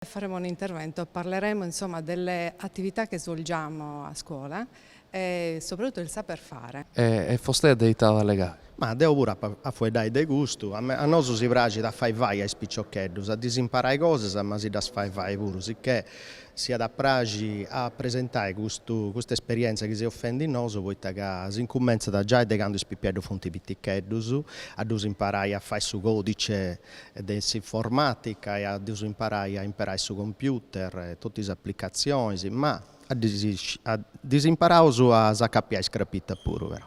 Faremo un intervento, parleremo insomma delle attività che svolgiamo a scuola e soprattutto del saper fare. E fostea de ita at a allegai? Ma deu puru apo a fueddai de custu, a a nosu si praxit a fai fai a is piciocheddus, a ddis imparai cosas ma si ddas fai fai puru, sicchè si at a praxi a presentai custu custa esperièntzia chi seus fendi nosu, poita ca s'incumentzat giai de candu is pipieddus funt piticheddus, a ddus imparai a fai su còdice de s'informàtica e a ddus imparai a imperai su computer e totu is aplicatzionis, ma a ddis a ddis imparaus a s'acapiai is crapitas puru però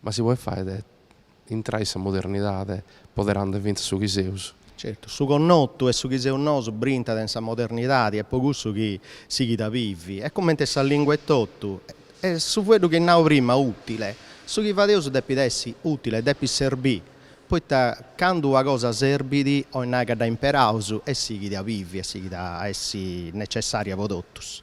Ma si podet fai de intrai in sa modernidade poderande fintzas su chi seus. Certu, su connotu e su chi seus nosu brintat in sa modernidadi est po cussu chi sighit a bivi, est comente sa lingua etotu, e su fueddu chi at nau prima, utile. Su chi fadeus depit essi utile, depit serbi, poita candu una cosa serbit, 'oit nai ca dda imperaus e sighit a bivi e sighit a essi necessaria po totus.